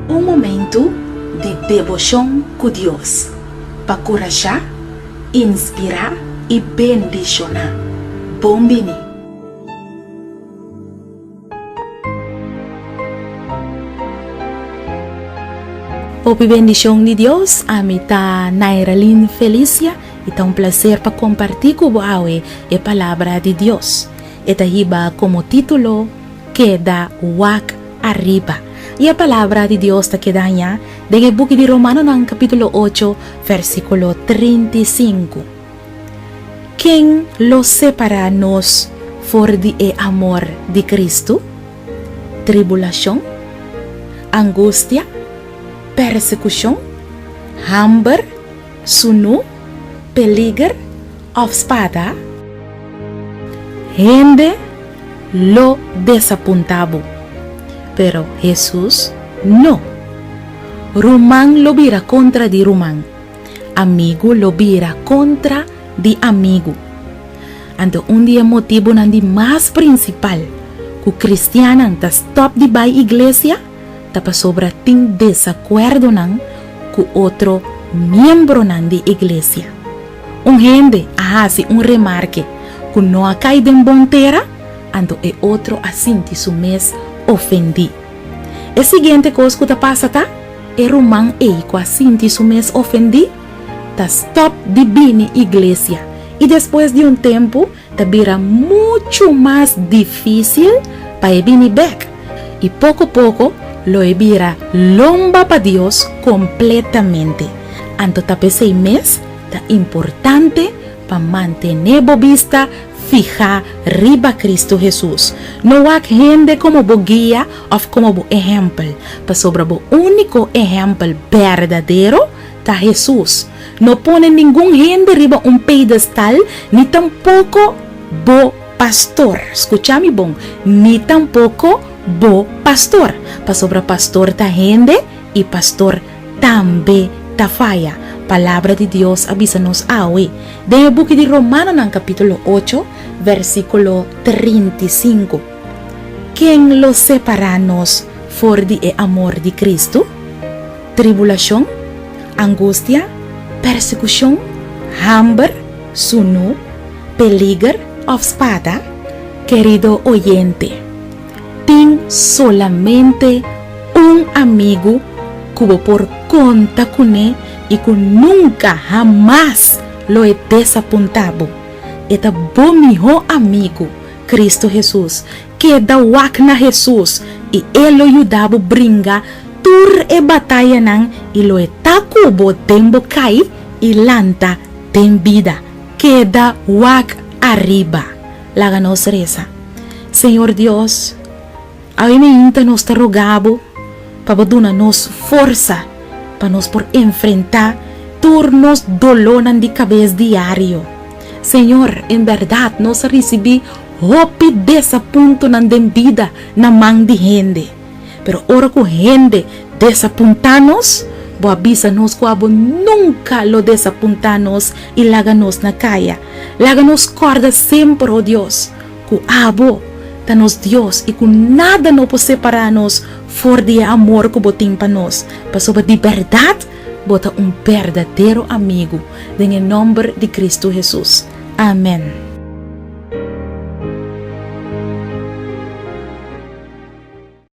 Un momentu di deboshon ku Dios pa kurashá, inspirá i bendishoná. Bon bini! Hopi bendicion di Dios, ami ta Nairaline Felicia y ta un placer pa comparti cu bo awe e palabra di Dios. E ta hiba como titulo, Keda wak ariba. Y e palabra di Dios ta keda aña den e buki di Romanonan capitulo ocho versiculo trinta y cinco. Ken lo separá nos for di e amor di Kristu? Tribulashon, angustia, persekushon, hamber, sunú, peliger, òf spada? Hende lo desapuntá bo, pero Hesus no. Ruman lo bira kontra di ruman. Amigu lo bira kontra di amigu. Anto un di e motibunan di mas prinsipal ku kristiannan ta stòp di bai iglesia ta pasobra tin desakuerdonan ku otro miembronan di iglesia. Un hende a hasi un remarke ku no a kai den bon tera, anto e otro a sinti su mes ofendí. E siguiente kos ku ta pasa ta. E ruman ei ku a sinti su mes ofendí ta stòp di bini iglesia i despues di un tempu ta bira muchu mas difísil pa e bini bèk, i poko poko lo e bira lomba pa Dios kompletamente. Anto ta p'esei mes ta importante pa mantené bo bista fihá riba Kristu Hesus. No wak hende komo bo guia Of komo bo ehèmpel, pasobra bo úniko ehèmpel berdadero ta Hesus. No pone ningun hende riba un pedestal, ni tampoko bo pastor, skucha mi bon, ni tampoko bo pastor, pasobra pastor ta hende i pastor tambe ta faya. Palabra di Dios a bisa nos awe den e buki di Romanonan kapítulo ocho, versíkulo trinta i sinku. Ken lo separá nos for di e amor di Kristu? Tribulashon, angustia, persekushon, hamber, sunú, peliger òf spada? Kerido oyente, tin solamente un amigu ku bo por konta kuné i ku nunka hamas lo e desapuntá bo. E ta bo mihó amigu Cristo Hesus. Keda wak na Hesus y El lo yuda bo bringa tur e batayanan y lo e ta cu bo den bo cay y lanta den bida. Keda wak ariba. Laga nos reza. Señor Dios. Awenainta nos ta rogá bo pa bo duna nos forsa pa nos por enfrentá tur nos dolónan di kabes diario. Señor, en bèrdat nos a risibí hopi desapuntunan den bida na man di hende. Pero ora ku hende desapuntá nos, bo a bisa nos ku abo nunka lo desapuntá nos i laga nos na kaya. Laga nos kòrda semper, o Dios, Ku abo ta nos Dios i ku nada no por separá nos for di e amor ku bo tin pa nos, pasobra di bèrdat bo ta un berdadero amigu, den e nòmber di Kristu Hesus. Amèn.